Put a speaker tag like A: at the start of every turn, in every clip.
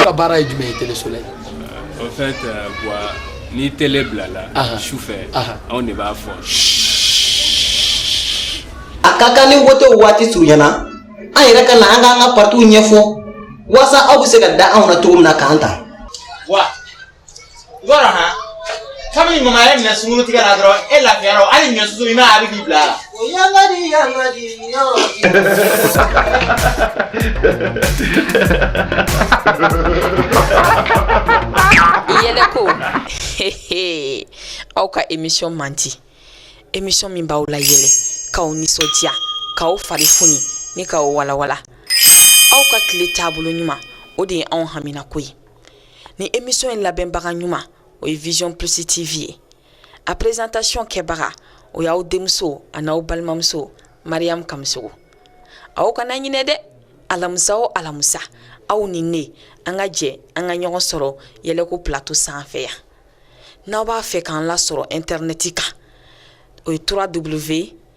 A: ka baara ye jumɛn ye Tele Soleil? Euh, en fait,
B: euh, voilà, ni télé bilala Aha. su fɛ Aha. anw de b'a fɔ
C: a ka kan ni wotew waati surunyana an yɛrɛ ka na an k'an ka partiw ɲɛfɔ walasa aw bɛ se ka da anw na cogo min na k'an ta wa
D: Wɔrɔnna kabini mama y'i minɛ sungurutigɛ la dɔrɔn e lafiyara o hali ɲɔ susu i ma a bɛ k'i bila a la. O yanga di yanga di
E: yɔrɔ yɛlɛko aw ka emission mandi emission min b'aw layɛlɛ k'aw nisɔndiya k'aw fari foni ni k'aw walawala aw ka tile taabolo ɲuman o de ye anw haminako ye ni émission in labɛnbaga ɲuman o ye vision plus tv ye a présentation kɛbaga o y'aw denmuso an'aw balimamuso mariyamu kamisogo aw kana ɲinɛ dɛ alamisa o alamisa aw ni ne an ka jɛ an ka ɲɔgɔn sɔrɔ yɛlɛko plateau sanfɛ yan n'aw b'a fɛ k'an lasɔrɔ intɛrnɛti kan o ye 3 w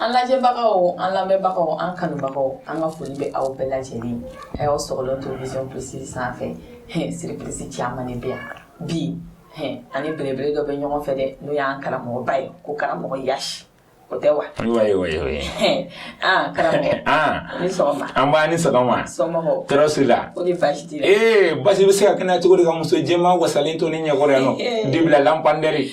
E: An lajɛbagaw an lamɛnbagaw an kanubagaw an ka foli bɛ aw bɛɛ lajɛlen a y'aw sɔgɔlen to vision plus sanfɛ surprise caman de bɛ yan bi ani belebele dɔ bɛ ɲɔgɔn fɛ dɛ n'o y'an karamɔgɔba ye ko karamɔgɔ yasi o tɛ
B: wa
E: nba a ni
B: sɔgɔma tɔɔrɔ si la
E: baasi bɛ se ka
B: kɛ ne la cogo di ka muso jɛman wasalen to ne ɲɛkɔrɔ yan nɔ dibila labanpɛri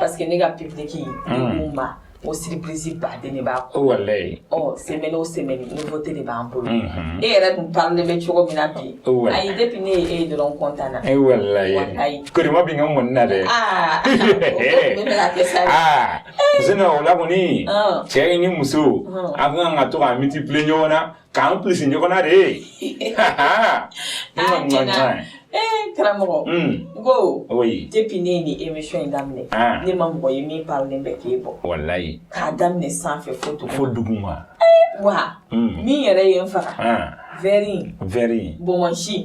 B: Parce
E: que ne ka public mun ma o surprise ba de b'a kɔ
B: semaine o
E: semaine nouveauté de b'an bolo e yɛrɛ dun parlen bɛ cogo min na bi ayi depuis ne ye e dɔrɔn kɔntanna walayi
B: kori bɛ ka mɔn na
E: dɛ sinon o
B: la kɔni cɛ ni muso an kan ka to ka multiplier ɲɔgɔn na k'an plus ɲɔgɔn na
E: de ee karamɔgɔ n ko depuis ne ye
B: nin émission
E: in daminɛ ne ma mɔgɔ ye min parlen bɛ k'e bɔ walayi k'a
B: daminɛ
E: sanfɛ fo duguma fo duguma wa min yɛrɛ ye n faga vɛri vɛri bɔnbɔnsi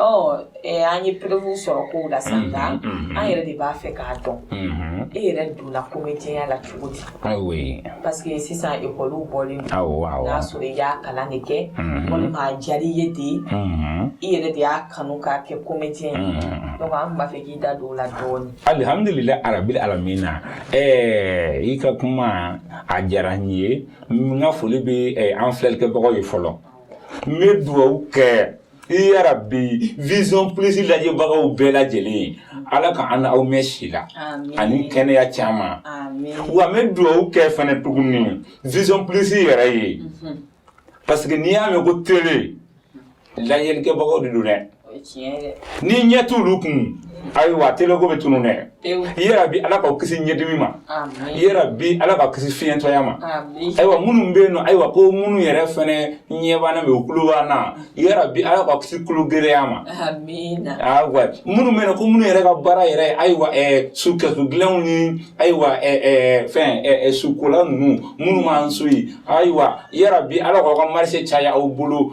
E: An ye preuve sɔrɔ kow la sa nka an yɛrɛ de b'a fɛ k'a dɔn e yɛrɛ donna comédienya la cogo di parce que sisan école bɔlen y'a sɔrɔ i y'a kalan de kɛ walima a diyara i ye de i yɛrɛ de y'a kanu ka kɛ comédien ye an b'a fɛ k'i da don o la dɔɔnin alihamdulilayi
B: arabil alamina ɛɛ i ka kuma a diyara n ye n ka foli bɛ an filɛlikɛbagaw ye fɔlɔ n bɛ dugawu kɛ Ya Rabbi vision plus lajɛbagaw bɛɛ lajɛlen ala ka an aw mɛn si la ani kɛnɛya caman wa n bɛ dugawu kɛ fana tuguni vision plus yɛrɛ ye parce que n'i y'a mɛn ko tele lajɛlikɛbagaw de don dɛ ni ɲɛ t' olu kun ayiwa tele ko bɛ tunun dɛ ya Rabbi ala k'aw kisi ɲɛdimi ma ya Rabbi ala k'aw kisi fiɲɛtɔya ma ayiwa minnu bɛ yen nɔ ayiwa ko minnu yɛrɛ fana ɲɛ b'an na mais u tulo b'an na ya Rabbi ala k'aw kisi tulo gɛlɛya ma ayiwa minnu bɛ yen nɔ ko minnu yɛrɛ ka baara yɛrɛ ayiwa ɛɛ sukɛsu dilanw ni ayiwa ɛɛ fɛn ɛɛ sukola ninnu minnu b'an so yen ayiwa ya Rabbi ala k'aw ka marché caya aw bolo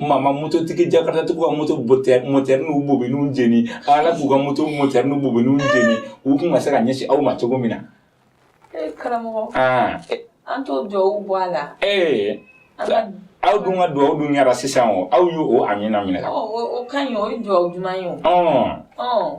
B: Maa ma mototigi jakartatigiw ka moto mɔtɛri n'u bobiniw jeni Ala k'u ka moto mɔtɛri n'u bobiniw jeni u kun ka se ka ɲɛsin aw ma cogo min na ee karamɔgɔ aa
E: an t'o duwawu bɔ a la ee an ka aw dun
B: ka duwawu dun kɛra sisan o aw y'o amiina minɛ ka ban o ka ɲi o ye
E: duwawu duman ye o ɔɔ ɔɔ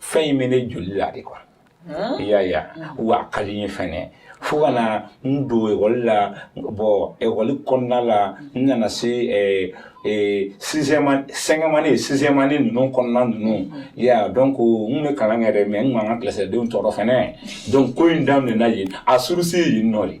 B: fɛn in bɛ ne joli la de quoi i y'a ye wa a ka di n ye fɛnɛ fo ka na n don ekɔli la bon ekɔli kɔnɔna la n nana se ɛɛ ee sixième cinquième année sixième année ninnu kɔnɔna ninnu i y'a ye donc n bɛ kalan kɛ dɛ mais n kun b'an ka kilasidenw tɔɔrɔ fɛnɛ donc ko in daminɛna yen a source yen nɔ de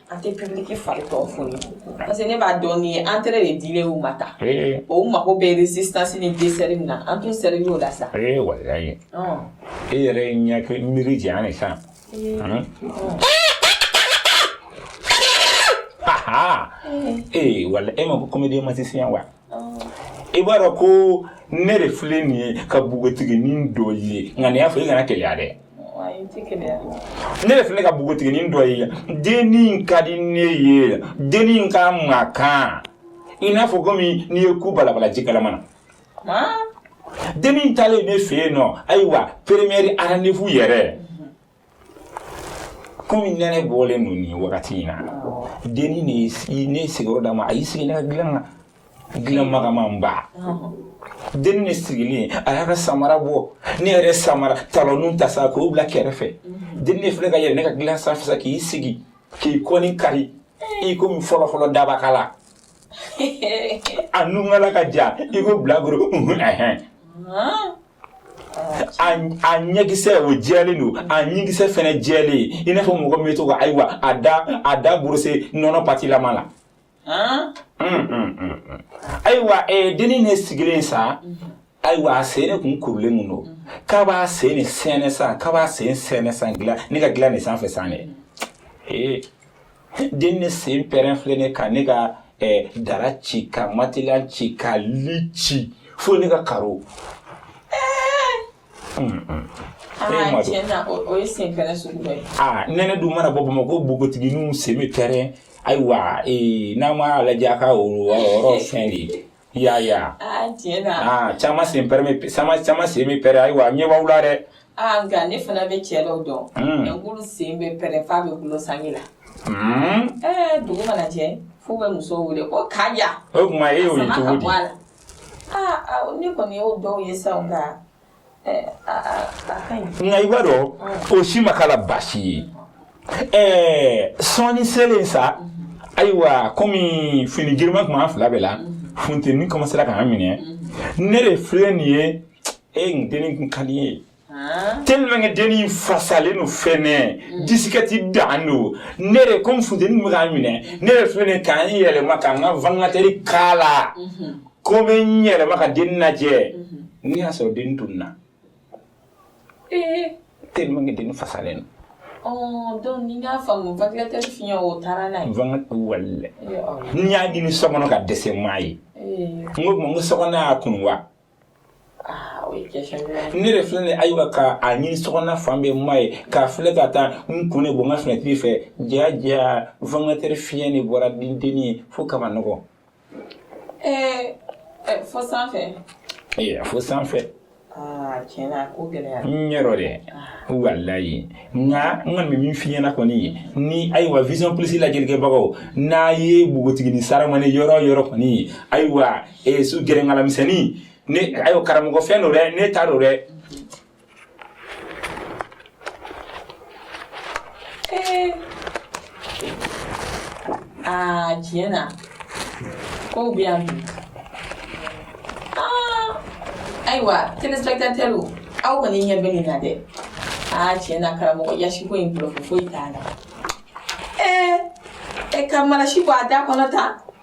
E: an tɛ publiki fari tɔw fo ye parce que ne b'a dɔn ni entrée de dilen u ma tan o u mago bɛ résistance ni dessert min na an t'u servi o la sa ee walayi
B: e yɛrɛ ye ɲɛ miiri jɛ an ye san ee wala e ma ko comédien magicien wa i b'a dɔn ko ne de filɛ nin ye ka npogotiginin dɔ ye nka ni n y'a fɔ i kana keleya dɛ ne de filɛ ka npogotiginin dɔ ye dennin ka di ne ye dennin ka magan i n'a fɔ komi n'i ye ku balabala ji kalaman na dennin taalen ne fɛ yen nɔ ayiwa première rendez-vous yɛrɛ komi nɛnɛ bɔlen don nin wagati in na denni ne ye sigiyɔrɔ d'a ma a y'i sigi ne ka dilan na dilan magamanba denni de sigilen a y'a ka samara bɔ ne yɛrɛ samara talɔninw ta sa k'o bila kɛrɛfɛ denni de filɛ ka yɛlɛ ne ka dilan sanfɛ sa k'i sigi k'i kɔni kari i komi fɔlɔfɔlɔ dabakala a nunkala ka jan i ko bilakoro a ɲɛkisɛ o jɛlen don a ɲinkisɛ fɛnɛ jɛlen i n'a fɔ mɔgɔ min bɛ to ka ayiwa a da a da borose nɔnɔ patilama la ayiwa denni ne sigilen sa ayiwa a sen ne kun kurulen kun don k'a b'a sen ne sɛɛnɛ san k'a b'a sen sɛɛnɛ san dilan ne ka dilan ne sanfɛ sa dɛ ee den ne sen pɛrɛn filɛ ne kan ne ka eh, dara ci ka matela ci ka li ci fo ne ka karo aa nɛnɛ dun mana bɔ bamakɔ npogotigininw sen bɛ pɛrɛn ayiwa ee n'an m'a lajɛ a ka o yɔrɔ fɛn de ye I y'a ye wa? Aa tiɲɛ na. Aa caman sen pɛrɛn bɛ caman caman sen bɛ pɛrɛn ayiwa a ɲɛ b'aw la dɛ. Aa nka ne fana
E: bɛ cɛ dɔw dɔn. Un. Nka k'olu sen bɛ pɛrɛn f'a bɛ gulon sange la. Un. Ɛɛ dugu mana jɛ f'u bɛ muso wele ko Kaja. O tuma e y'o ye cogo di? A
B: sama ka bɔ a la. Aa
E: awɔ ne kɔni y'o dɔw ye sa o nka
B: nka i b'a dɔn o si ma k'a la baasi ye ɛɛ sɔɔni selen sa ayiwa komi fini girinma tun b'an fila bɛɛ la funteni kɔmasera k'an minɛ ne de filɛ nin ye e n denni kun ka di ye tellement que denni fasalen don fɛnɛ disikɛti dan don ne de komi funteni bɛ k'an minɛ ne de filɛ nin ye ka n yɛlɛma ka n ka vangilatɛri k'a la Ko bɛ n yɛlɛma ka den lajɛ n y'a sɔrɔ den tununna tellement
E: den
B: fasalen n y'a ɲini so kɔnɔ ka dɛsɛ n m'a ye n so y'a kunu wa ne de filɛ de ayiwa ka a ɲini so fan bɛɛ n m'a ye k'a filɛ ka taa n kun ne bɔ n ka finɛtiri fɛ jaja vangilatɛri fiɲɛ in de bɔra ni dennin ye fo ka nɔgɔ
E: Ee fo sanfɛ ee
B: fo
E: sanfɛ tiɲɛ na ko gɛlɛn yɛrɛ
B: don dɛ walayi nka n kɔni bɛ min f'i ɲɛna kɔni ye ni ayiwa vision plus lajɛlikɛbagaw n'aw ye npogotigini saramani yɔrɔ yɔrɔ kɔni ye ayiwa su gɛrɛnkala misɛnnin ne ayiwa karamɔgɔ fɛn don dɛ ne t'a dɔn dɛ
E: Eh. Ah, tiɲɛ na ko bɛ yan bi. Ah. Ayiwa, telespectateurw. Aw kɔni ɲɛ bɛ nin na dɛ. Ah, tiɲɛ na karamɔgɔ yasiko in bolo foyi t'a la. Eh. E ka marasi bɔ a da kɔnɔ tan.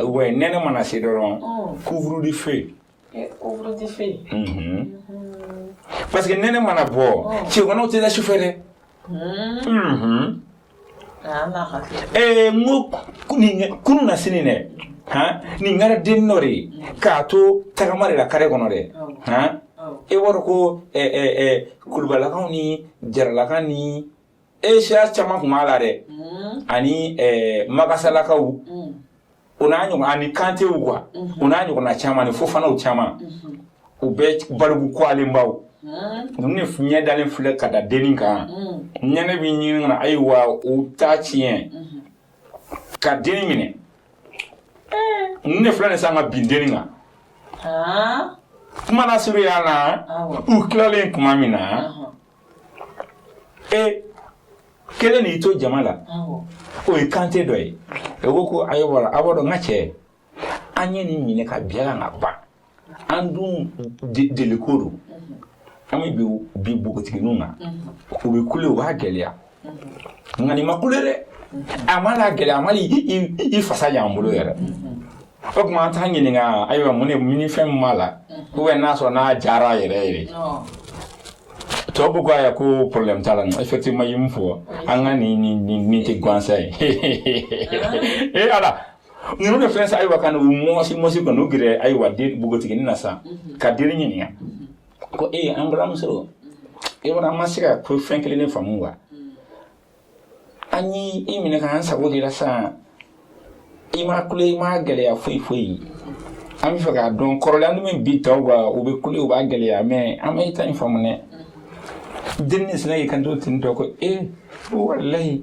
B: ou bien nɛnɛ mana se dɔrɔn couvre de feu parce que nɛnɛ mana bɔ cɛganaw tɛ da sufɛ dɛ n ko kununasini dɛ nin kɛra den dɔ de ye k'a to tagama de la kare kɔnɔ dɛ e b'a dɔn ko kulubalakaw ni jaralakaw ni e siya caman tun b'a la dɛ ani magasalakaw o n'a ɲɔgɔn ani kantew quoi o n'a ɲɔgɔnna caman ni fofanaw caman u bɛ baliku kwalenbaw ninnu de ɲɛ dalen filɛ ka da denni kan ɲɛnɛ bɛ ɲini ka na ayiwa u ta tiɲɛ ka denni minɛ ninnu de filɛ nin sa ka bin denni kan kuma lasurunya na u tilalen tuma min na e kelen y'i to jama la o ye kante dɔ ye e ko ko ayiwa ala b'a dɔn n ka cɛ an ye nin minɛ ka bin a kan ka ban an dun deliko don an bɛ bin npogotigininw kan u bɛ kule u b'a gɛlɛya nka nin ma kule dɛ a m'a lagɛlɛya a ma i fasaya an bolo yɛrɛ o tuma an t'a ɲininka ayiwa mun de min fɛn min b'a la ou bien n'a sɔrɔ n'a jara yɛrɛ yɛrɛ tɔ ko k'a yɛ ko problème t'a la non effectivement i ye min fɔ an ka nin nin nin nin tɛ gansan ye ee ala ninnu de filɛ sa ayiwa ka n'u mɔsi mɔsi ka n'u gɛrɛ ayiwa den npogotiginin na sa ka den ɲininka ko e an balimamuso e kɔni an ma se ka ko fɛn kelen de faamu wa an y'i i minɛ k'an sago k'i la sisan i ma kule i ma gɛlɛya foyi foyi an b'a fɛ k'a dɔn kɔrɔlen n'an bɛ bin tɔw kan u bɛ kule u b'a gɛlɛya mais an ma i ta in faamu dɛ denni sinna y'i kanto ten tɔ ko e walayi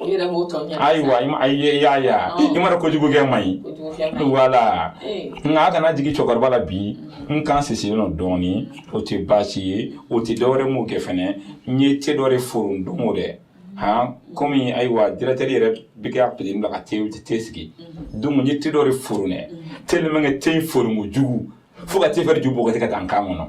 E: I yɛrɛ b'o tɔ ɲɛfɔ sa. Ayiwa i ma ayi ye
B: y'a ye a. Ɔn. I m'a dɔn kojugu kɛ man ɲi. Kojugu kɛ man ɲi. Voilà. Ee. Nka a kana jigin cɛkɔrɔba la bi n kan sisilen don dɔɔnin o tɛ baasi ye o tɛ dɔwɛrɛ m'o kɛ fɛnɛ n ye te dɔ de foron don o dɛ han komi ayiwa directeur yɛrɛ bɛ k'a petit bila ka te te sigi donc n ye te dɔ de foron dɛ tellement que te in foronko jugu fo ka te fɛrɛ ju bɔgɔti ka taa n kan kɔnɔ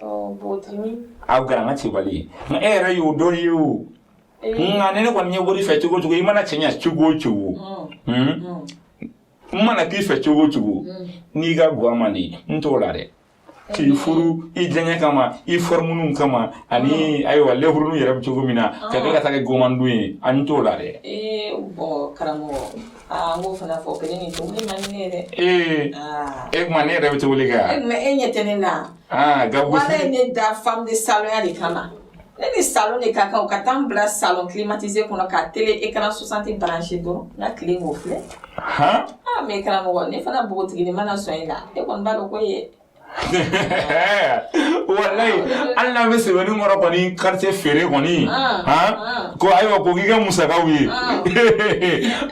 E: aw kɛra
B: an ka cɛbali ye nka e yɛrɛ y'o dɔ ye o nka ni ne kɔni ye wari fɛ cogo o cogo i mana cɛɲa cogo o cogo n mana k'i fɛ cogo o cogo n'i ka guwa man di n t'o la dɛ k'i furu i diyanye kama i fɔrimuniw kama ani ayiwa lenburuninw yɛrɛ bɛ cogo min na ka kɛ ka taa kɛ gomandun ye an t'o la dɛ
E: karamɔgɔ Aa n b'o fana fɔ kelen ni tobili man di ne ye dɛ tuma ne yɛrɛ
B: bɛ tobili kɛ mais e ɲɛ tɛ ne la
E: wa e ne da femme de salonya de kama ne ni salon de ka kan ka taa n bila salon climatisé kɔnɔ ka télé écran soixante branché dɔrɔn n ka tilen k'o filɛ mais karamɔgɔ ne fana npogotigi mana sɔn e la e kɔni b'a dɔn ko ye
B: walayi hali n'a bɛ sebeninkɔrɔ kɔni quartier feere kɔni ko ayiwa ko k'i ka musakaw ye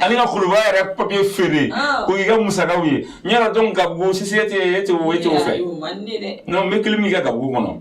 B: ani ka kuluba yɛrɛ papier feere ko k'i ka musakaw ye n yɛrɛ don gabugu sisi e tɛ o fɛ n bɛ kelen min kɛ gabugu kɔnɔ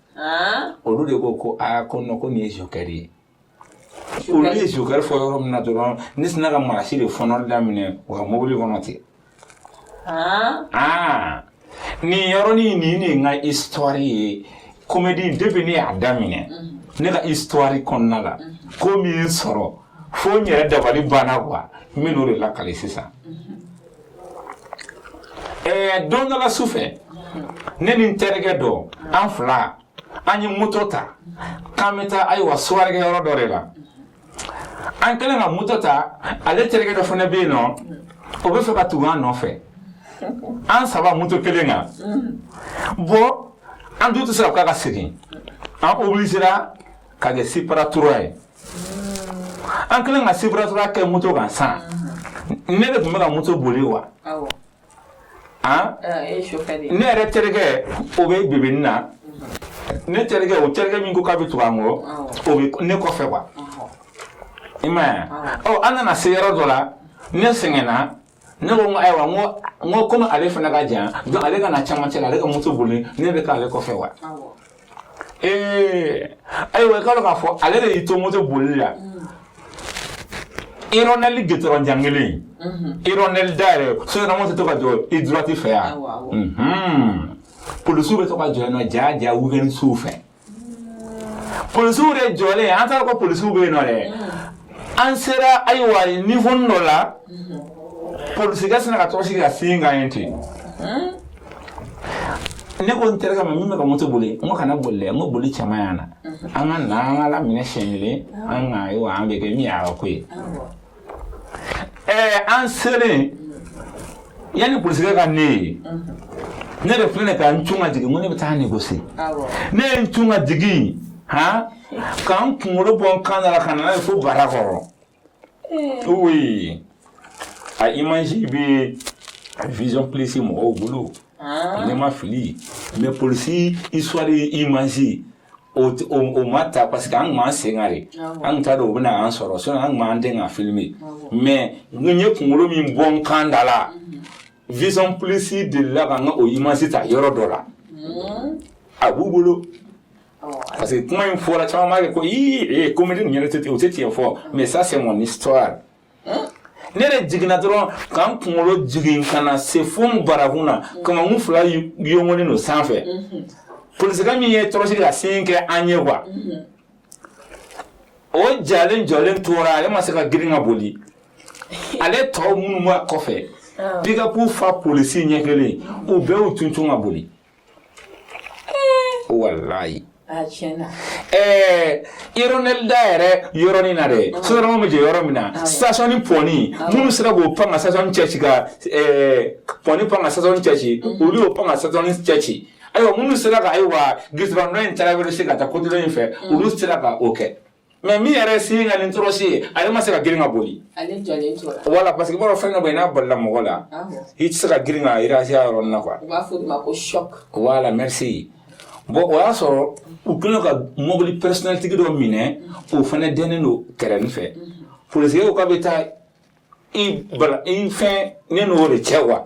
B: olu de ko ko aa ko ko nin ye joker de ye olu ye joker fɔ yɔrɔ min na dɔrɔn ne sinna ka marasi de fɔɔnɔ daminɛ u ka mobili kɔnɔ ten aa nin yɔrɔnin nin de n ka histoire ye comédie depuis ne y'a daminɛ ne ka histoire kɔnɔna la ko min sɔrɔ fo n yɛrɛ dabali banna quoi n bɛn'o de lakale sisan ɛɛ don dɔ la su fɛ ne ni n terikɛ dɔ an fila an ye moto ta k'an bɛ taa ayiwa soirée kɛ yɔrɔ dɔ de la an kɛlen ka moto ta ale terikɛ dɔ fana bɛ yen nɔ o bɛ fɛ ka tugu an nɔfɛ an saba moto kelen kan bɔn an dun tɛ se ka k'a ka segin an obligera ka kɛ siparatura ye An kɛlen ka siparatura kɛ moto kan sa ne de tun bɛ ka moto boli wa ne yɛrɛ terikɛ o bɛ bi na ne terikɛ o terikɛ min ko k'a bɛ tugu an kɔ ne kɔfɛ wa i m'a ye an nana se yɔrɔ dɔ la ne sɛgɛnna Ne ko n ko ayiwa n ko n ko komi ale fana ka jan donc ale ka na cɛmancɛ la ale ka moto boli ne bɛ k'ale kɔfɛ wa ee ayiwa i k'a dɔn k'a fɔ ale de y'i to moto boli la irɔnɛli gitɔrɔn jan kelen irɔnɛli da yɛrɛ soɲɛnamaw tɛ to ka jɔ i droite fɛ yan polisiw bɛ to ka jɔ yen nɔ jaa jaa week-end suw fɛ polisiw de jɔlen an t'a dɔn ko polisiw bɛ yen nɔ dɛ an sera ayiwa niveau dɔ la polisikɛ sinna ka tɔrɔsi ka signe k'an ye ten ne ko n terikɛ ma min bɛ ka moto boli n ko kana boli dɛ n ko boli caman y'an na an ka na an ka laminɛ siɲɛ kelen an ka ayiwa an bɛ kɛ min y'a ka ko ye Ɛɛ an selen yanni polisikɛ ka ne ye ne de filɛ nin ka n cun ka jigin ko ne bɛ taa négocier ne ye n cun ka jigin han ka n kunkolo bɔ n kan na ka na n'a ye fo bara kɔrɔ oui a image bɛ vision plus mɔgɔw bolo ne ma fili mais polisi histoire image O t o o ma ta parce que an tun b'an sen kan de, awɔ, an tun t'a dɔn u bɛna an sɔrɔ sinon an tun b'an dɛn k'a filmer awɔ, mais n ye kunkolo min bɔ n kan da la mhm, Vision Plus delila ka n ka o image ta yɔrɔ dɔ la mhm, a b'u bolo awɔ, parce que kuma in fɔra caman b'a kɛ ko ii ee comédie nin yɛrɛ tɛ o tɛ tiɲɛ fɔ mais ça c'est mon histoire ne de jiginna dɔrɔn ka n kunkolo jigin ka na se fo n barakun na kamankun fila yongolen don sanfɛ polisikɛ min ye tɔrɔsi ka signe kɛ an ye wa o jalen jɔlen tora ale ma se ka girin ka boli ale tɔw minnu b'a kɔfɛ pikapu fa polisi ɲɛ kelen u bɛɛ y'u cuncun ka boli Wallahi. Aa tiɲɛ na. Ɛɛ ironel da yɛrɛ yɔrɔnin na dɛ sotarama bɛ jɔ yɔrɔ min na station in pɔni minnu sera k'o pan ka station cɛci ka pɔni pan ka station cɛci olu y'o pan ka station cɛci ayiwa minnu sera ka ayiwa gisiba nɔ in taara wɛrɛ se ka taa kotulon in fɛ olu sera ka o kɛ Mais min yɛrɛ sen ka ni tɔrɔsi ye ale ma se ka girin ka boli voilà parce que b'a fɛn ka bɔ n'a balala mɔgɔ la i tɛ se ka girin ka irasiya yɔrɔnin na quoi merci bon o y'a sɔrɔ u kɛlen ka mɔbili personnel tigi dɔ minɛ o fana dɛnen don kɛrɛ in fɛ pse ka bɛ taa i fɛn ne n'o de cɛ wa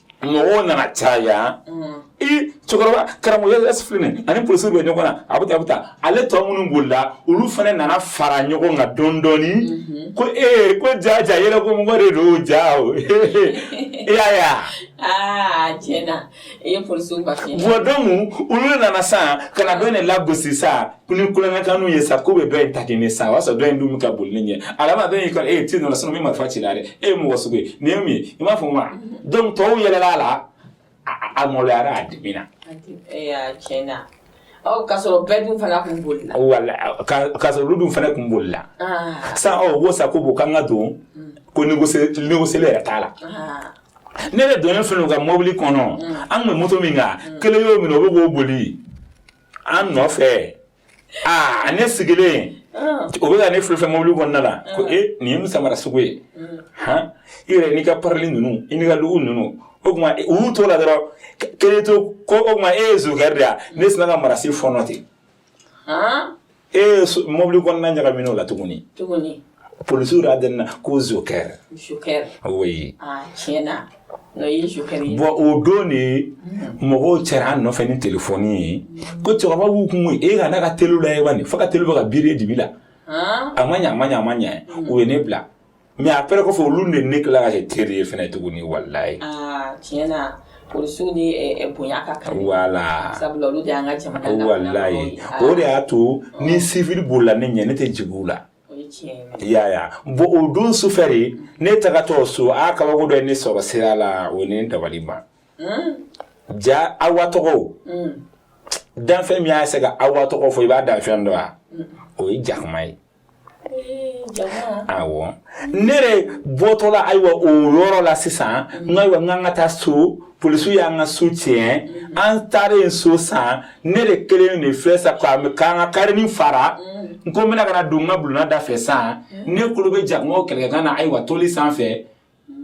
B: mɔgɔw nana caya i cɛkɔrɔba karamɔgɔ yɛrɛ filɛ nin a ni polisi bɛ ɲɔgɔn na a bɛ taa a bɛ taa ale tɔ minnu bolila olu fana nana fara ɲɔgɔn kan dɔɔni dɔɔni ko ee ko ja ja yɛrɛ ko mɔgɔ de don ja o e y'a ye a
E: aa tiɲɛ na i ye polisiw ka fiɲɛ bɔ donc olu
B: nana sisan ka na dɔ in de lagosi sa ko ni kulonkɛ kanu ye sa ko bɛ dɔ in ta kɛ ne sa o y'a sɔrɔ dɔ in dun bɛ ka boli ne ɲɛ alama dɔ in y'i kɔrɔ e ye ti nana sinon min marifa cila dɛ e ye mɔgɔ sugu ye nin ye mun ye i m'a fɔ ma donc tɔw yɛlɛla a la a maloyara a dimina tiɲɛ na k'a
E: sɔrɔ bɛɛ dun fana kun bolila
B: voilà k'a sɔrɔ olu dun fana kun bolila san ɔ ko sa ko bon k'an ka don ko négocier yɛrɛ t'a la ne yɛrɛ donnen filɛ u ka mɔbili kɔnɔ an tun bɛ moto min kan kelen y'o minɛ o bɛ k'o boli An nɔfɛ aa ne sigilen o bɛ ka ne filɛ fɛn mobili kɔnɔna la ko e nin ye mun samara sugu ye h i yɛrɛ n'i ka parili ninnu n'i ka lugu ninnu o tuma u y'u to la dɔrɔn kelen to ko o tuma e ye zokɛri de ye ne sinna ka marasi fɔɔnɔ ten Ee mɔbili kɔnɔna ɲagamina o la tuguni, tuguni, polisiw yɛrɛ dɛnna ko zokɛri, zokɛri, oui, aa tiɲɛ na
E: o ye zokɛri
B: ye, bon o don de mɔgɔw cɛra an nɔfɛ ni telefɔni ye ko cɛkɔrɔba b'u kun e ka n'a ka teliw lajɛ bani fo ka teliw bɛ ka biri e dibi la, han, a ma ɲɛ a ma ɲɛ a ma ɲɛ u ye ne bila Mais après kɔfɛ olu de ne tila ka kɛ teri ye fana tuguni wallahi tiɲɛ
E: na polisiw ni bonya ka kan voilà sabula olu de y'an ka jamana wallahi o de
B: y'a to ni civil bolila ne ɲɛ ne tɛ jigin u la ya bon o don su fɛ de ne tagatɔ so a kabako dɔ ye ne sɔrɔ sira la o ni dabaliban ja Awa tɔgɔ danfɛn min y'a se ka Awa tɔgɔ fɔ i b'a danfɛn dɔn wa o ye jakuma ye Ayiwa ne de bɔtɔla ayiwa o yɔrɔ la sisan n ayiwa n ka taa so polisiw y'an ka so tiɲɛ an taara yen so san ne de kelen de filɛ sa k'an ka karinin fara n ko n bɛna ka na don n ka bulonna da fɛ san ne kulo bɛ jakumaw kɛlɛkɛkan na ayiwa toli sanfɛ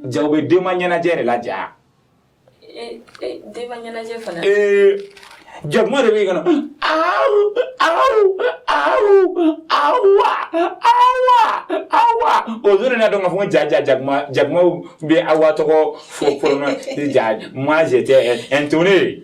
B: Ja bɛ denba ɲɛnajɛ de la ja jakuma de bɛ o don ka fɔ ja ja jakuma bɛ Awa tɔgɔ fɔ mazɔn ye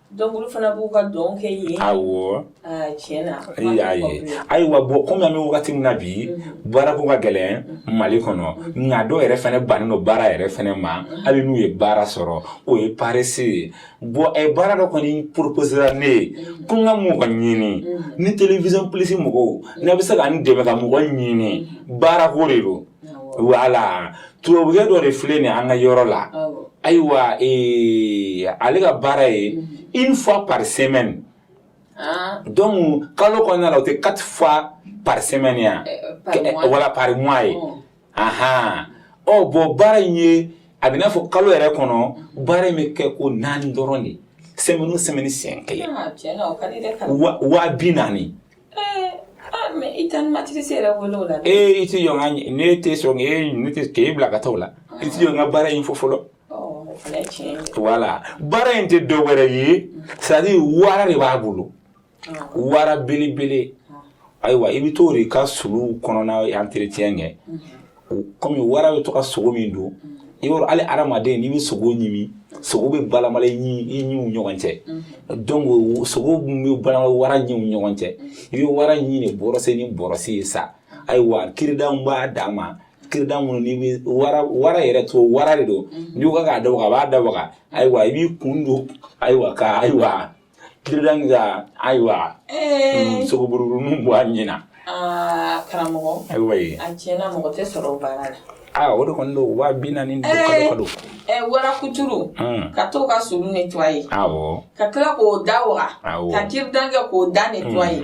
E: Donc olu fana b'u ka
B: dɔn kɛ yen. Awɔ.
E: Aa tiɲɛ na. Ee y'a
B: ye. Ayiwa bon comme an bɛ wagati min na bi. Unhun. Baara ko ka gɛlɛn Mali kɔnɔ. Unhun. Nka dɔw yɛrɛ fana bannen don baara yɛrɛ fana ma. Unhun. Hali n'u ye baara sɔrɔ o ye paresse ye. Bon ɛ baara dɔ kɔni proposera ne ye. Unhun. Ko n ka mɔgɔ ɲini. Unhun. Ni television plus mɔgɔw. Unhun. N'a bɛ se ka n dɛmɛ ka mɔgɔ ɲini. Unhun. Baara ko de don. voilà tubabukɛ dɔ de filɛ nin an ka yɔrɔ la ayiwa ale ka baara ye une fois par semaine donc kalo kɔnɔna na o tɛ quatre fois par semaine ya wala par mois ye aɔn bon baara in ye a bɛn'a fɔ kalo yɛrɛ kɔnɔ baara in bɛ kɛ ko naani dɔrɔn de semaine o semaine siɲɛ kelen wa bi naani
E: mais i tan ma tɛ se yɛrɛ wele o la ee i tɛ jɔ n
B: ka ne tɛ sɔn e ne tɛ k'e bila ka taa o la i tɛ jɔ n ka baara in fɔ fɔlɔ voilà baara in tɛ dɔ wɛrɛ ye c'est-à-dire wara de b'a bolo wara belebele ayiwa i bɛ to de ka sulu kɔnɔna entretien kɛ kɔmi wara bɛ to ka sogo min dun i b'a dɔn hali adamaden n'i bɛ sogo ɲimi sogo bɛ balamala i ɲiw ɲɔgɔn cɛ donc sogo bɛ balamala wara ɲiw ɲɔgɔn cɛ i bɛ wara ɲi de bɔrɔse ni bɔrɔsi ye sa ayiwa cure-dentw b'a dan ma cure-dent minnu n'i bɛ wara wara yɛrɛ to wara de don n'i ko k'a da waga a b'a da waga ayiwa i b'i kun don ayiwa ka ayiwa Cure-dent ka ayiwa sogo buruburuninw bɔ a ɲi na karamɔgɔ
E: ayiwa a
B: cɛ mɔgɔ tɛ
E: sɔrɔ o baara la aa o de kɔni don
B: waa bi naani don
E: wara kuturu ka to ka sulu nettoyer ka tila k'o da waga ka cure-dent kɛ k'o da nettoyer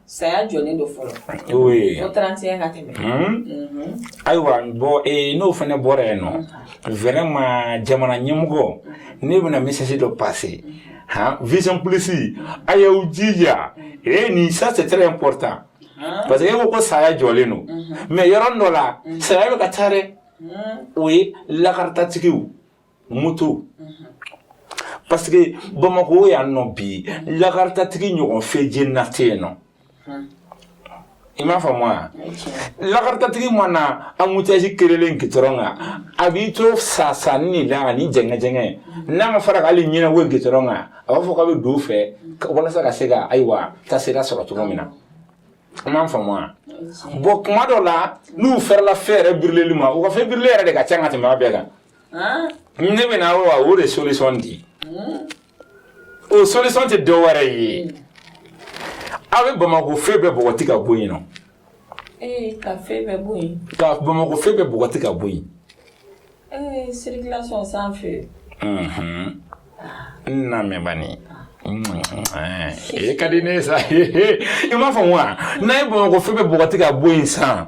E: Saya jɔlen don fɔlɔ ko trente et un ka
B: tɛmɛ ayiwa bon n'o fana bɔra yen nɔ vraiment jamana ɲɛmɔgɔ ne bɛna message dɔ passer hɔn Vision Plus a y'aw jija ee nin ça c'est très important parce que e ko ko saya jɔlen don mais yɔrɔ dɔ la saya bɛ ka taa dɛ o ye lakarita tigiw moto parce que bamakɔ yan nɔ bi lakaritatigi ɲɔgɔn fɛ je na tɛ yen nɔ i m'a faamu wa lakaritatigi mana embouteillage kerelen gitɔrɔn kan a b'i to sa sa ni la ani jɛngɛjɛngɛ n'a ma fara k'ale ɲinɛ wo gitɔrɔn kan a b'a fɔ k'a bɛ don fɛ walasa ka se ka ayiwa taasira sɔrɔ cogo min na i m'a faamu wa bon kuma dɔ la n'u fɛrɛla feu yɛrɛ brûlerli ma u ka feu brûler yɛrɛ de ka ca ka tɛmɛ a bɛɛ kan ne bɛ na wa o de solution di o solution tɛ dɔ wɛrɛ ye aw bɛ Bamakɔ feu bɛɛ bɔgɔti ka bɔ yen nɔ ka feu bɛɛ
E: bɔ yen ka Bamakɔ feu
B: bɛɛ bɔgɔti ka bɔ yen circulation
E: sanfɛ.
B: n lamɛn bani e ka di ne sa i m'a faamu wa n'a ye bamakɔ fe bɛɛ bɔgɔti ka bɔ yen san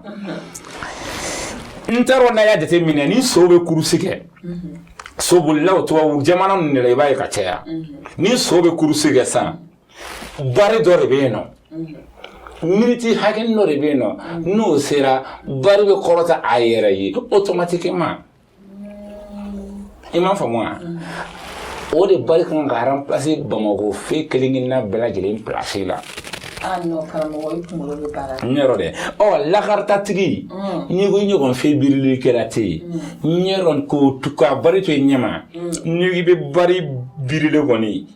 B: n t'a dɔn n'a y'a jateminɛ ni sow bɛ kurusi kɛ sobolilaw tubabu jamana ninnu de la i b'a ye ka caya ni so bɛ kurusi kɛ san bari dɔ de bɛ yen nɔ miniti hakɛ dɔ de bɛ yen nɔ n'o sera bari bɛ kɔrɔta a yɛrɛ ye otomatikema i m'a faamu wa o de bari kan ka ranpilase bamakɔ fe kelen kelenna bɛɛ lajɛlen pilasi la
E: yɔrɔ dɛ
B: ɔ jakaritatigi nin kɔni ɲɔgɔn fe birili kɛla tɛ yen yɔrɔ ko ka bari to i ɲɛma n'i bɛ bari birili kɔni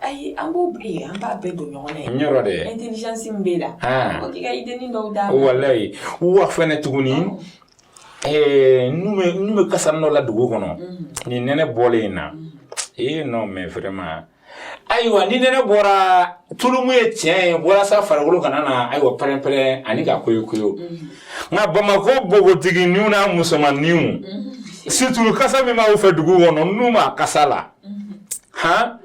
E: Ayi an b'o bi an b'a bɛɛ don ɲɔgɔn na yen yɔrɔ dɛ
B: intelligence min b'e
E: la k'i ka idée dɔw d'an ma walayi
B: wa fana tuguni ɛɛ n bɛ kasa dɔ la dugu kɔnɔ nin nɛnɛ bɔlen in na non mais vraiment ayiwa ni nɛnɛ bɔra tulumu ye tiɲɛ ye walasa farikolo kana na ayiwa pɛrɛnpɛrɛn ani ka koyi koyi nka bamakɔ npogotigininw n'a musomanninw situlu kasa min b'aw fɛ dugu kɔnɔ n'u ma kasa la han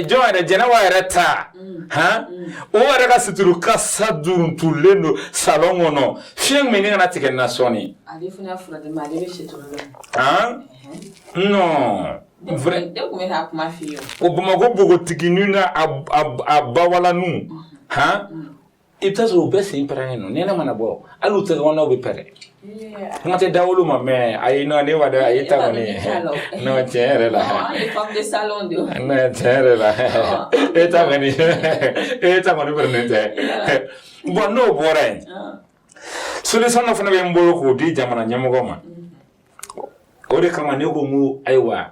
B: jɔn yɛrɛ jɛnɛba yɛrɛ ta han o yɛrɛ ka situlu kasa duruntulen don salon kɔnɔ fiɲɛ min ni kana tigɛ na sɔɔni
E: han
B: non
E: o bamakɔ npogotiginin
B: n'a a bawalanu han I bɛ taa sɔrɔ u bɛɛ sen pɛrɛnnen don nɛnɛ mana bɔ hali u tɛgɛkɔnɔnaw bɛ pɛrɛn kuma tɛ dawolo ma mais ayi non ne m'a dɔn a ye ta kɔni non tiɲɛ yɛrɛ la non
E: tiɲɛ yɛrɛ la
B: e ta kɔni e ta kɔni pɛrɛnnen tɛ bon n'o bɔra yen solution dɔ fana bɛ n bolo k'o di jamana ɲɛmɔgɔ ma o de kama ne ko n ko ayiwa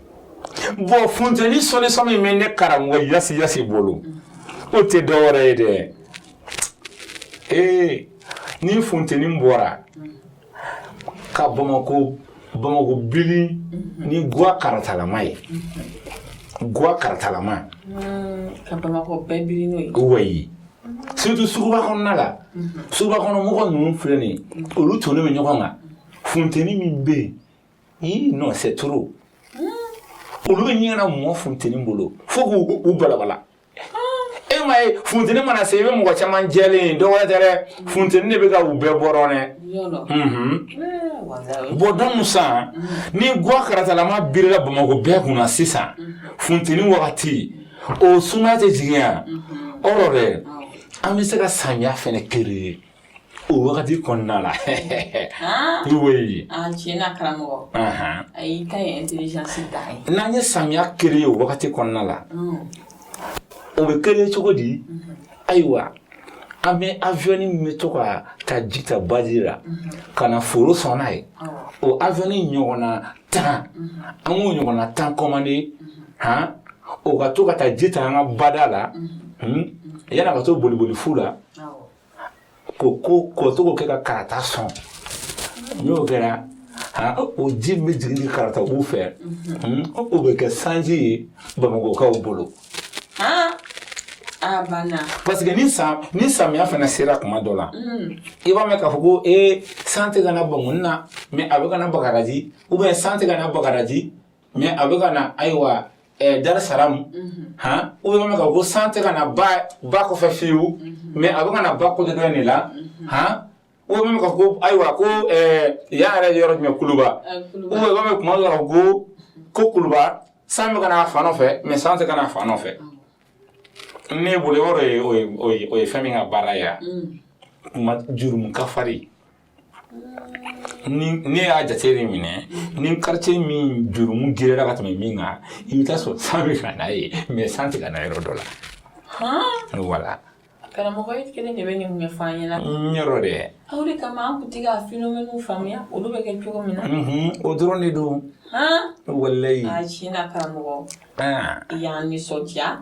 B: bon funteni sɔlisɔn min bɛ ne karamɔgɔ yasi yasi bolo o tɛ dɔwɛrɛ ye dɛ ee ni funteni bɔra ka bamakɔ bamakɔ bili ni guwa karatalama ye guwa karatalama
E: ka bamakɔ bɛɛ bili n'o ye
B: wayi surtout suguba kɔnɔna la suguba kɔnɔ mɔgɔ ninnu filɛ nin ye olu tonnen bɛ ɲɔgɔn kan funteni min bɛ yen Ee non c'est trop olu bɛ ɲɛna mɔgɔ funteni bolo fo k' u balabala e m'a ye funteni mana se i bɛ mɔgɔ caman jɛlen dɔwɛrɛ tɛ dɛ funteni de bɛ ka u bɛɛ bɔrɔ dɛ bon donc san ni gwa karatalama birila bamakɔ bɛɛ kunna sisan funteni wagati o suma tɛ jigin yan yɔrɔ dɛ an bɛ se ka samiya fana kere o wagati kɔnɔna la oui a tiɲɛ
E: na karamɔgɔ a y'i ka intelligence da ye n'an ye samiya
B: kere ye o wagati kɔnɔna la o bɛ kere cogo di ayiwa an bɛ avion min bɛ to ka taa ji ta baji la ka na foro sɔn n'a ye o avion ɲɔgɔnna tan an k'o ɲɔgɔnna tan kɔmande han o ka to ka taa ji ta an ka bada la yann'a ka to boliboli fu la ko to k'o kɛ ka karata sɔn n'o kɛra o ji bɛ jigin karata wo fɛ o bɛ kɛ sanji ye bamakɔkaw bolo parce que ni san ni samiya fana sera kuma dɔ la i b'a mɛn k'a fɔ ko ee san tɛ ka na bankɔni na mais a bɛ ka na bagadaji ou bien san tɛ ka na bagadaji mais a bɛ ka na ayiwa dar salamu hɔn i b'a mɛn k'a fɔ ko san tɛ ka na ba kɔfɛ fiyewu mais a bɛ ka na ba côté dɔ de la hɔn i b'a mɛn k'a fɔ ko ayiwa ko yan yɛrɛ yɔrɔ jumɛn kuluba i b'a mɛn kuma dɔ la ko ko kuluba san bɛ ka na fan dɔ fɛ mais san tɛ ka na fan dɔ fɛ ne bolo yɔrɔ ye fɛn min ka baara ye yan kuma jurumu kafari ne y'a jate de minɛ ni quartier min jurumu girera ka tɛmɛ min kan i bɛ t'a sɔrɔ san bɛ ka na yen mais san tɛ ka na yɔrɔ dɔ la voilà karamɔgɔ e
E: kelen de bɛ nin ɲɛfɔ an ɲɛna n yɔrɔ
B: dɛ aw de kama an
E: tun tɛ ka phénomène faamuya olu bɛ kɛ cogo min na o dɔrɔn de don
B: walayi a tiɲɛ na
E: karamɔgɔ i y'an nisɔndiya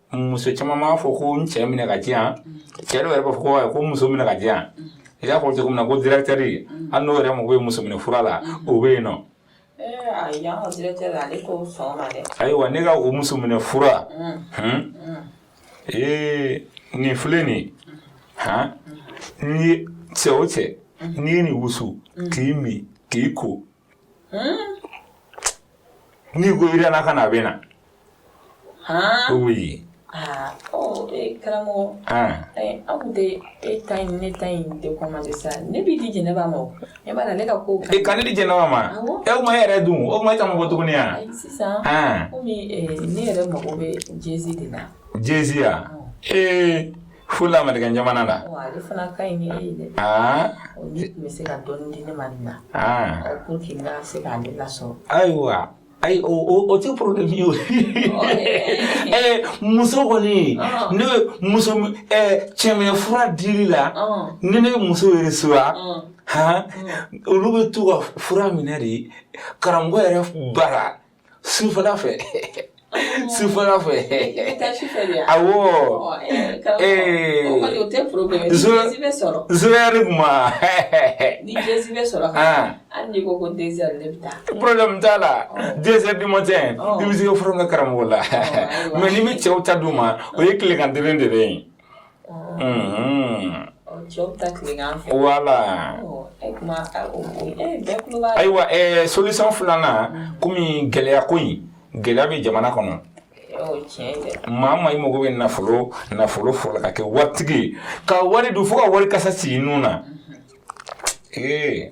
B: muso caman b'a fɔ ko n cɛ minɛ k'a di yan cɛ dɔw yɛrɛ b'a fɔ ko ko muso minɛ k'a di yan i y'a fɔ cogo min na ko directeur hali n'o yɛrɛ mago bɛ muso minɛ fura la o bɛ yen
E: non ayiwa ne ka o
B: muso minɛ fura ee nin filɛ nin han n'i ye cɛ o cɛ n'i ye nin wusu k'i min k'i ko N'i ko i yɛlɛla ka na a bɛ
E: na karamɔgɔ aw tɛ e ta ne ta tɛ sa ne b'i di jɛnɛba ma e b'a ne ka ko ka ne di jɛnɛba
B: ma e m'a yɛrɛ dɔn o ma e ta ma bɔ tuguni yan sisan
E: ne yɛrɛ mago bɛ jsin de la jya
B: ee Fo lamerikɛn jamana
E: la ayiwa ayi
B: o tɛ problème ye ɛɛ muso kɔni ne muso cɛminɛ fura dili la ne ne muso reçoit olu bɛ to ka fura minɛ de karamɔgɔ yɛrɛ bara Su fana fɛ su fana fɛ awo zuyari kuma
E: problème t'a
B: la deux heures du matin i bɛ se furu ka karamɔgɔ la mais ne bɛ cɛw ta di u ma o ye tilegan kelen de bɛ yen Ayiwa solution filanan kɔmi gɛlɛya ko in gɛlɛya bɛ jamana kɔnɔ maa ma i mago bɛ nafolo nafolo fɔlɔ ka kɛ waritigi ka wari dun fo ka wari kasa sigi i nun na ee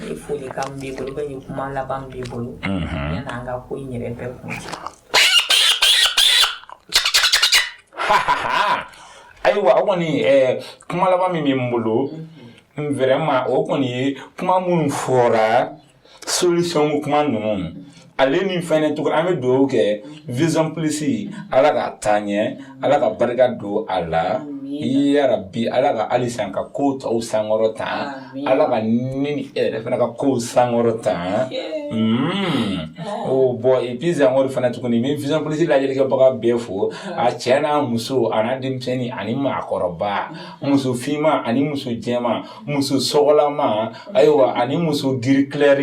E: ni folikan b'i bolo ba ni kuma laban b'i bolo yann'an ka ko in yɛrɛ bɛɛ
B: kuncɛ ayiwa o kɔni kuma laban min bɛ n bolo vraiment o kɔni ye kuma minnu fɔra solution kuma ninnu Ale ni fɛnɛ tuguni an bɛ dugawu kɛ Vision Plus Ala k'a taa ɲɛ Ala ka barika don a la yarabi Ala ka halisa a ka kow tɔw sankɔrɔta Ala ka ne ni e yɛrɛ fana ka kow sankɔrɔta oh bon et puis encore fana tuguni n bɛ Vision Plus lajɛlikɛbaga bɛɛ fo a cɛ n'a muso a n'a denmisɛnnin ani maakɔrɔba muso finman ani muso jɛman muso sokolama ayiwa ani muso gris clair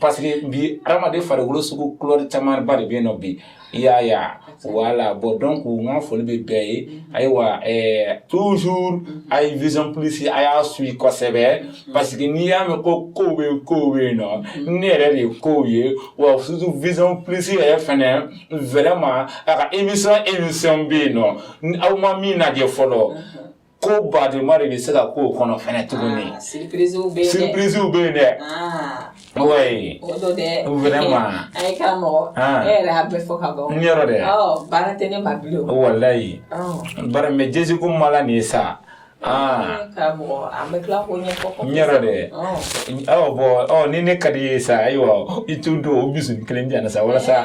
B: parce que bi hadamaden farikolo sugu kulɛri camanba de bɛ yen nɔ bi i y'a ye voilà bon donc n ka foli bɛ bɛɛ ye ayiwa ɛɛ toujours a ye vision plus a y'a suit kosɛbɛ parce que n'i y'a mɛn ko kow bɛ yen kow bɛ yen nɔ ne yɛrɛ de ye kow ye wa surtout vision plus yɛrɛ fɛnɛ vraiment a ka émission émission bɛ yen nɔ aw ma min lajɛ fɔlɔ. Ko badenma de bɛ se ka koo kɔnɔ fana
E: tuguni surprisew bɛ yen dɛ
B: walayi baramɛjɛsi ko ma nin ye sa
E: aa dɛ
B: aw bon ni ne ka di ye sa ayiwa i t to don o bisimila kelen sa walasa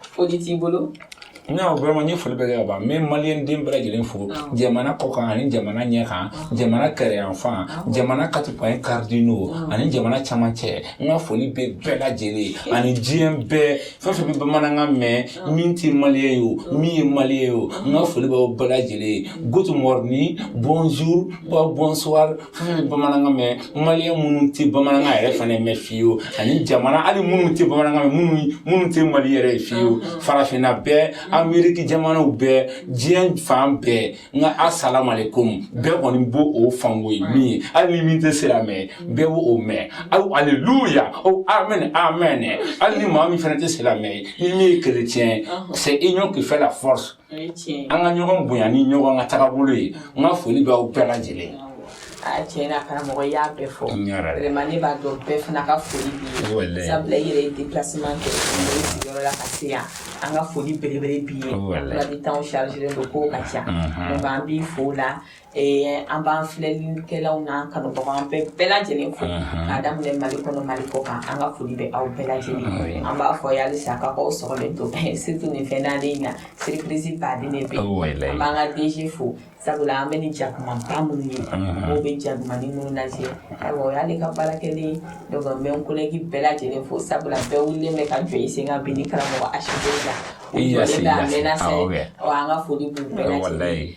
E: Foli t'i bolo non vraiment n
B: ye foli bɛɛ kɛ ka ban n bɛ maliyɛn den bɛɛ lajɛlen fo jamana kɔkan ani jamana ɲɛ kan jamana kɛrɛyanfan jamana quatre points cardinaux ani jamana cɛmancɛ n ka foli bɛ bɛɛ lajɛlen ani diɲɛ bɛɛ fɛn fɛn bɛ bamanankan mɛn min tɛ maliyɛn ye o min ye maliyɛn ye o n ka foli b'aw bɛɛ lajɛlen good morning bonjour bonsoir fɛn bɛ bamanankan mɛn maliyɛn minnu tɛ bamanankan yɛrɛ fana mɛn fiyewu ani jamana hali minnu tɛ bamanankan mɛn minnu minnu tɛ maliyɛn yɛrɛ ye fiyewu farafinna bɛɛ ameriki jamanaw bɛɛ diɲɛ fan bɛɛ nka asalamalekun bɛɛ kɔni b'o o faamuya min ye hali ni min tɛ silamɛ bɛɛ b'o o mɛn aw aleluya o amen amen hali ni maa min fana tɛ silamɛ ye min ye kerecɛn c'est union qui fait la force an ka ɲɔgɔn bonya ni ɲɔgɔn ka tagabolo ye n ka foli bɛ aw bɛɛ lajɛlen tiɲɛ na
E: karamɔgɔ y'a bɛɛ fɔ vraiment ne b'a dɔn bɛɛ fana ka foli b'i ye sabula i yɛrɛ ye déplacement kɛ i sigiyɔrɔ la ka se yan an ka foli belebele b'i ye sabula bi temps chargelen don kow ka ca donc an b'i fo o la An b'an filɛlikɛlaw na ka an bɛɛ bɛɛ lajɛlen fo ka daminɛ mali kɔnɔ mali kɔ kan an ka foli bɛ aw bɛɛ lajɛlen an b'a fɔ aw ye halisa ka aw sɔgɔlen to surtout nin fɛn naani in na surpriseba de bɛ an b'an ka DG fo sabula an bɛ ni jakuma tan minnu ye mɔgɔw bɛ ja ni minnu lajɛ y'ale ka baara kɛlen bɛ kolɛki bɛɛ lajɛlen fo sabula bɛɛ wulilen bɛ ka jɔ i sen kan bi karamɔgɔ a la an ka foli bɛɛ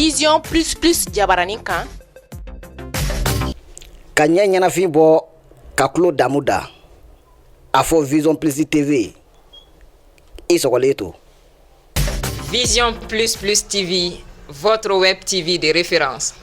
A: vision plus plus jabaranin kan
F: ka ɲɛ ɲɛnafin bɔ ka tulo damu da a fɔ vision plus tv i sɔgɔlen to
G: vision plus plus tv votre web tv de référence